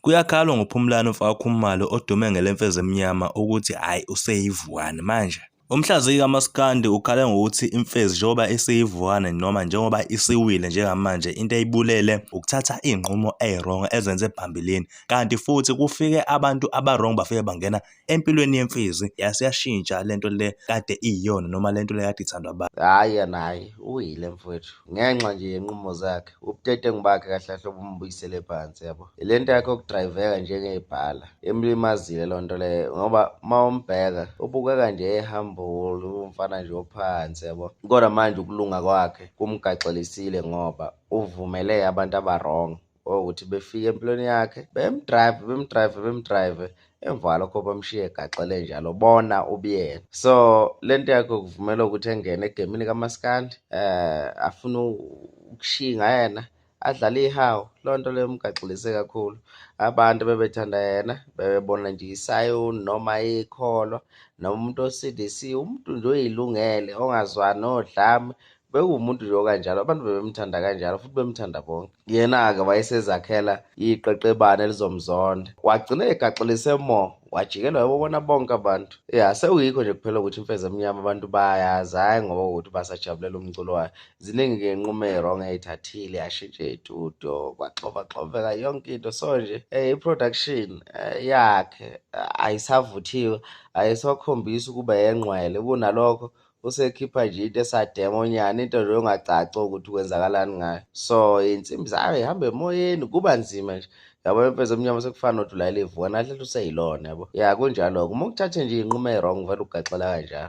Kuyakhalwa ngoPhumlani umfaka Khumalo odume ngelemfezi emnyama ukuthi hhayi useyivuane manje. Umhlaziyi kamaskandi ukhale ngokuthi imfezi njengoba isiyivuane noma njengoba isiwile njengamanje into eyibulele ukuthatha iy'nqumo ey'rongo ezenze phambilini kanti futhi kufike abantu aba-wrong bafike bangena empilweni yemfizi yase yashintsha lento le kade iyiyona noma lento le kade ithandwa abantu hayi yena hayi uyile mfowethu ngenxa nje yenqumo zakhe ubutetengu bakhe kahle kahle obumbuyisele phansi yabo le nto yakhe okudrayiveka njengebhala emlimazile loo nto leyo ngoba uma umbheka ubukeka nje ehambule umfana nje ophansi yabo kodwa manje ukulunga kwakhe kumgaxelisile ngoba uvumele abantu abarong ukuthi befike empilweni yakhe bemdrive bemdrive bemdrive emva kwalokho bamshiye egaxele njalo bona ubuyena so le nto yakhe kuvumela ukuthi engene egemini kamaskandi um afune ukushinga yena adlale ihawu loo nto leyo mgaxilise kakhulu abantu bebethanda yena bebebona nje isayoni noma ikholwa noma umuntu osidisiwe umuntu nje oyilungele ongazwani odlame bekuwumuntu nje okanjalo abantu bebemthanda kanjalo futhi bemthanda bonke yena-ke wayesezakhela iqeqebane elizomzonda wagcina egaxelise mo wajikelwa yobobona bonke abantu ya sewuyikho nje kuphela ukuthi imfeza emnyama abantu bayayazi hhayi ngoba ukuthi basajabulela umculo wayo ziningi-ke inqumo eyi-wrong eyithathile yashintshe itudio kwaxovaxoveka yonke into so nje um i-production eh, yakhe ayisavuthiwe ayisakhombisi ukuba yengqwele kunalokho usekhipha nje into esademonyana into nje ongacaci ukuthi kwenzakalani ngayo so insimbi zayo ihamba emoyeni kuba nzima nje yabo empeza omnyama sekufana nothi ulayile ivuka nahlehla useyilona yabo ya kunjalo-ke uma ukuthathe nje iyinqumo eyi-wrong vele ugaxela kanjalo